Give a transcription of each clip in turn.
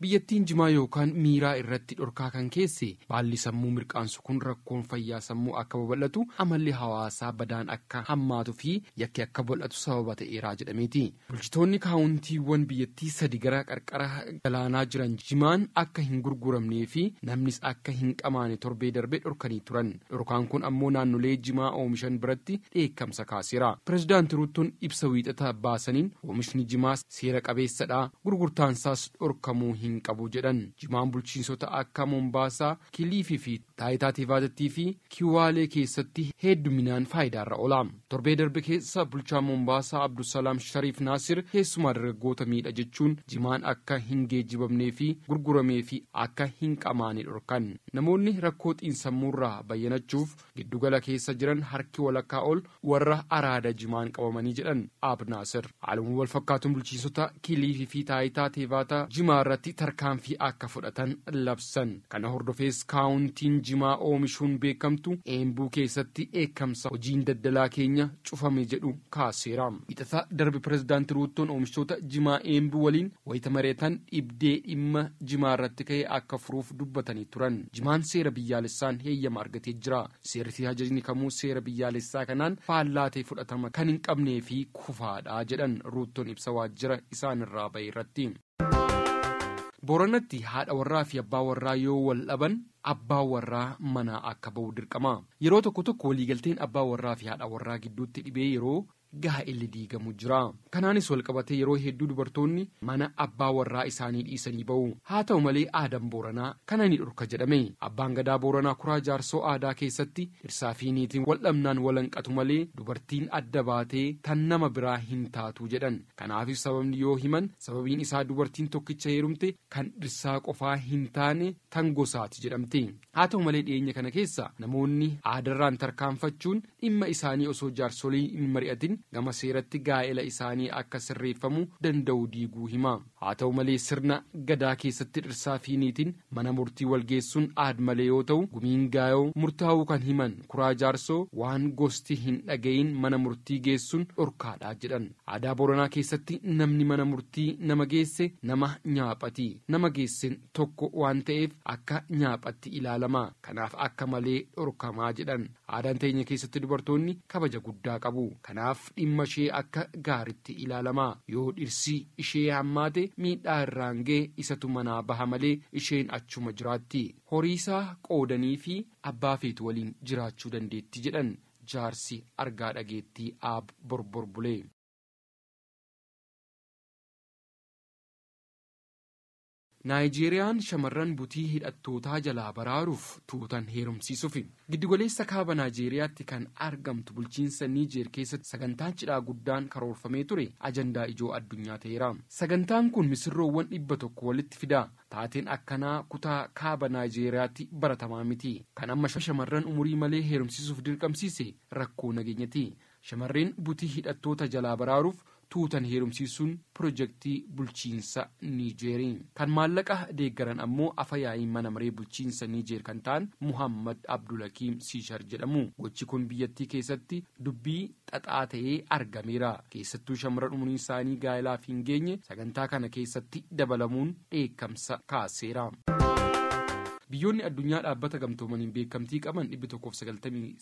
Biyyattiin jimaa yookaan miiraa irratti dhorkaa kan keesse baalli sammuu mirqaansu kun rakkoon fayyaa sammuu akka babal'atu, amalli hawaasaa badaan akka hammaatu fi yakki akka bal'atu sababa ta'eera jedhameeti. Bulchitoonni kaawuntiiwwan biyyattii sadi gara qarqara galaanaa jiran jimaan akka hin gurguramnee fi namnis akka hin qamaane torbee darbe dhorkanii turan. Dhorkaan kun ammoo naannolee jimaa oomishan biratti dheekkamsa kaaseera. Pirezidaanti Ruuttoon ibsa Wiixata baasaniin oomishni jimaa seera qabeessadha, gurgurtaansaas dhorkamuu hin qabu jedhan. Jimaan bulchiinsota akka Mombaasaa, Kiliifii fi Taayitaa Teevaazattii fi Kiwaalee keessatti heedduminaan faayidaarra oola. Torbee darbe keessa bulchaan Mombaasaa Abdusalaam Shariif Naasir keessumaa dargaggoota miidha jechuun jimaan akka hin geejjibamnee fi gurguramee fi akka hin qamaane dhorkan. Namoonni rakkoo xiinsammuurraa bayyanachuuf Giddu gala keessa jiran harki walakkaa ol warra araada jimaan qabamanii jedhan Aab Naasir. Haaluma wal fakkaatuun bulchiinsota Kiliifii fi Taayitaa Teevaata jimaa irratti tarkaanfii akka fudhatan labsan. Kana hordofees kaawuntiin jimaa oomishuun beekamtu Eembuu keessatti dheekkamsa hojiin daddalaa keenya cufame jedhu kaaseera. Wiixata darbe Pirezidaanti Ruuttoon oomishtoota jimaa Eembuu waliin wayita mari'atan dhibdee dhimma jimaa irratti ka'e akka furuuf dubbatanii turan. Jimaan seera biyyaalessaan heeyyama argatee jira. Seerri fi hajajni kamuu seera biyyaalessaa kanaan faallaa ta'e fudhatama kan hin qabnee fi kufaa dha, jedhan Ruuttoon ibsa waajjira isaan irraa ba'e irratti. Booranatti haadha warraa fi abbaa warraa yoo wal dhaban abbaan warraa manaa akka ba'u dirqama. Yeroo tokko tokko waliigalteen abbaa warraa fi haadha warraa gidduutti dhibee yeroo gaa'elli diigamu jira. Kanaanis walqabatee yeroo hedduu dubartoonni mana abbaa warraa isaanii dhiisanii ba'u. Haa ta'u malee aadaan Booranaa kana ni dhorka jedhame. Abbaan Gadaa Booranaa Kuraa Jaarsoo aadaa keessatti dhirsaa fi niitiin wal dhabnaan wal hanqatu malee dubartiin adda baatee tan nama biraa hin taatu jedhan. Kanaafis sababni yoo himan sababiin isaa dubartiin tokkicha heerumte kan dhirsaa qofaa hin taane tan gosaati jedhamti. Haa ta'u malee dhiyeenya kana keessa namoonni aadarraan tarkaanfachuun dhimma isaanii osoo jaarsoliin hin mari'atin gama seeratti gaa'ela isaanii akka sirreeffamu danda'u diiguu hima. Haa ta'u malee sirna Gadaa keessatti dhirsaa fi niitiin mana murtii wal geessuun aad-malee yoo ta'u gumiin gaayoo murtaa'uu kan himan Kuraa Jaarsoo waan gosti hin dhaga'iin mana murtii geessuun dhorkaadha jedhan. Aadaa Booranaa keessatti namni mana murtii nama geesse nama nyaaphati. Nama geessen tokko waan ta'eef akka nyaaphatti ilaalama. Kanaaf akka malee dhorkamaa jedhan. Aadaan teenya keessatti dubartoonni kabaja guddaa qabu. Kanaaf dhimma ishee akka gaaritti ilaalama. Yoo dhirsi ishee hammaate miidhaa irraan ga'e isatu manaa baha malee isheen achuma jiraatti. Horiisaa qoodaniifi abbaa feetu waliin jiraachuu dandeetti jedhan jaarsi argaa dhageettii Aab Borbor Bulee. Naayijeeriyaan shamarran butii hidhattootaa jalaa baraaruuf tuutan heerumsiisufi. Giddugaleessa Kaaba Naayijeeriyaatti kan argamtu bulchiinsa Niijeer keessatti sagantaan cidhaa guddaan karoorfamee ture ajandaa ijoo addunyaa ta'eera. Sagantaan kun misirroowwan dhibba tokko walitti fida. Taateen akkanaa kutaa Kaaba Naayijeeriyaatti baratamaa miti. Kan amma shamarran umurii malee heerumsiisuuf dirqamsiise rakkoo nageenyati. Shamarreen butii hidhattoota jalaa baraaruuf tuutan heerumsiisuun pirojektii bulchiinsa Niijeeri. Kan maallaqa deeggaran ammoo afa yaa'ii mana maree bulchiinsa Niijeer kan ta'an Muhaammad Abdulakiim Siishar jedhamu. Gochi kun biyyattii keessatti dubbii xaxaa ta'ee argameera. Keessattuu shamarran umuriinsaanii gaa'elaaf hin geenye sagantaa kana keessatti dabalamuun dheekkamsa kaaseera. Biyyoonni addunyaa Dhaabbata Gamtoomaniin beekkamtii qaban dhibbi tokkoo fi sagaltamii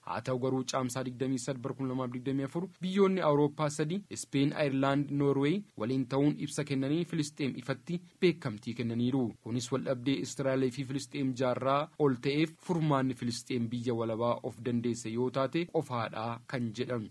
Haa ta'u garuu Caamsaa 23 bara 2024 biyyoonni Awurooppaa sadi, Ispeen, Ayirlaand, Noorweey, waliin ta'uun ibsa kennaniin Filisxeem ifatti beekamtii kennaniiru. Kunis waldhabdee Israa'el fi Filisxeem jaarraa ol ta'eef furmaanni Filisxeem biyya walabaa of dandeesse yoo taate qofaadha kan jedhan.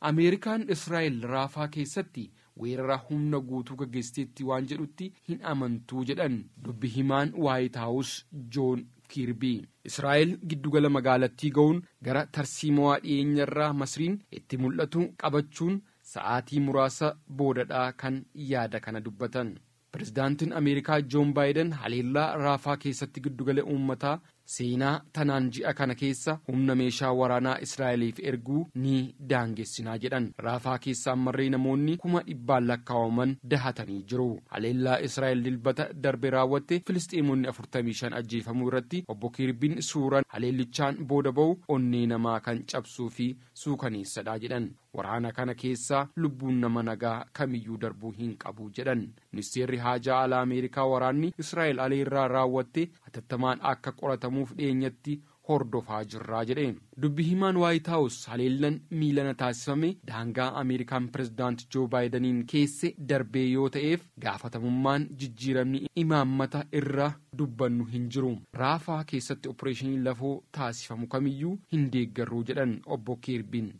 Ameerikaan Israa'el Raafaa keessatti weerara humna guutuu gaggeessiteetti waan jedhutti hin amantu jedhan dubbi himaan Waayit Haawus Joon Kiirbii. Israa'el giddugala magaalattii ga'uun gara tarsiimowaa dhiyeenyarraa Masriin itti mul'atu qabachuun sa'aatii muraasa boodadha kan yaada kana dubbatan. Pirezidaantiin Ameerikaa Joon Baayiden haleellaa Raafaa keessatti giddugala uummataa seenaa tanaan ji'a kana keessa humna meeshaa waraanaa Israa'eliif erguu ni daangessinaa jedhan. Raafaa keessa ammarree namoonni kuma dhibbaan lakkaawaman dahatanii jiru. Haleellaa Israa'el Dilbata darbe raawwatte Filisxeemonni afurtamii shan ajjeefamuu irratti Obbo Kiirbiin suuran haleellichaan booda ba'u onnee namaa kan cabsuu fi suukaneessadha jedhan. Waraana kana keessa lubbuun nama nagaa kamiyyuu darbuu hin qabu jedhan. Ministeerri Haajaa Alaa Ameerikaa waraanni Israa'el aleerraa raawwatte hatattamaan akka qoratamuuf dhiyeenyatti hordofaa jirra jedhe. Dubbi himaan Waayit Haawus haleellan miilana taasifame daangaa Ameerikaan Pirezidaant Joo Baayidaniin keesse darbee yoo ta'eef gaafatamummaan jijjiiramni imaammata irra dubbannu hin jiru. Raafaa keessatti opireeshinii lafoo taasifamu kamiyyuu hin deeggarru jedhan Obbo Kiirbiin.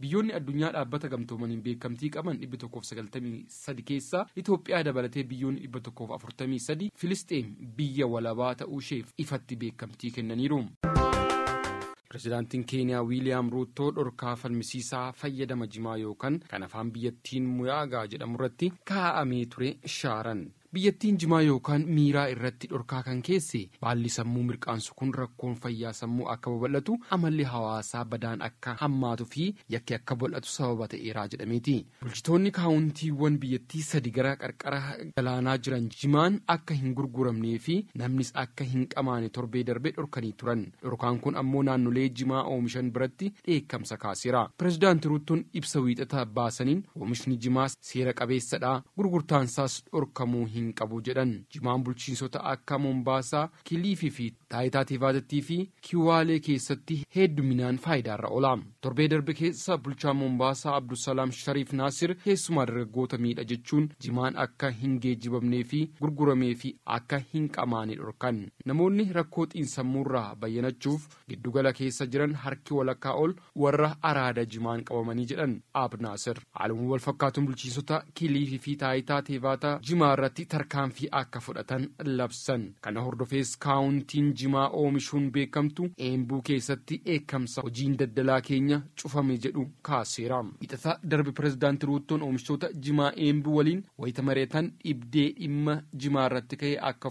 Biyyoonni addunyaa Dhaabbata Gamtoomaniin beekamtii qaban 193 keessaa Itoophiyaa dabalatee biyyoonni 143 Filisxeem biyya walabaa ta'uusheef ifatti beekamtii kennaniiru. Pirezidaantiin Keeniyaa Wiiliyaam Ruuttoo dhorkaa falmisiisaa fayyadama jimaa yookan kan afaan biyyattiin Muyaagaa jedhamurratti kaa'amee ture shaaran. Biyyattiin jimaa yookaan miiraa irratti dhorkaa kan keesse baalli sammuu mirqaansu kun rakkoon fayyaa sammuu akka babal'atu, amalli hawaasaa badaan akka hammaatu fi yakki akka bal'atu sababa ta'eera jedhameeti. Bulchitoonni kaawuntiiwwan biyyattii sadi gara qarqara galaanaa jiran jimaan akka hin gurguramnee fi namnis akka hin qamaane torbee darbe dhorkanii turan. Dhorkaan kun ammoo naannolee jimaa oomishan biratti dheekkamsa kaaseera. Pirezidaanti Ruuttoon ibsa Wiixata baasaniin oomishni jimaa seera qabeessadha, gurgurtaansaas dhorkamuu hin qabu jedhan. Jimaan bulchiinsota akka Mombaasaa, Kiliifii fi Taayitaa Teevaazattii fi Kiwaalee keessatti heedduminaan faayidaarra oola. Torbee darbe keessa bulchaan Mombaasaa Abdusalaam Shariif Naasir keessumaa dargaggoota miidha jechuun jimaan akka hin geejjibamnee fi gurgurameefi akka hin qamaane dhorkan. Namoonni rakkoo xiinsammuurraa bayyanachuuf Giddu gala keessa jiran harki walakkaa ol warra araada jimaan qabamanii jedhan Aab Naasir. Haaluma wal fakkaatuun bulchiinsota Kiliifii fi Taayitaa Teevaata jimaa irratti tarkaanfii akka fudhatan labsan. Kana hordofees kaawuntiin jimaa oomishuun beekamtu Eembuu keessatti dheekkamsa hojiin daddalaa keenya cufame jedhu kaaseera. Wiixata darbe Pirezidaanti Ruuttoon oomishtoota jimaa Eembuu waliin wayita mari'atan dhibdee dhimma jimaa irratti ka'e akka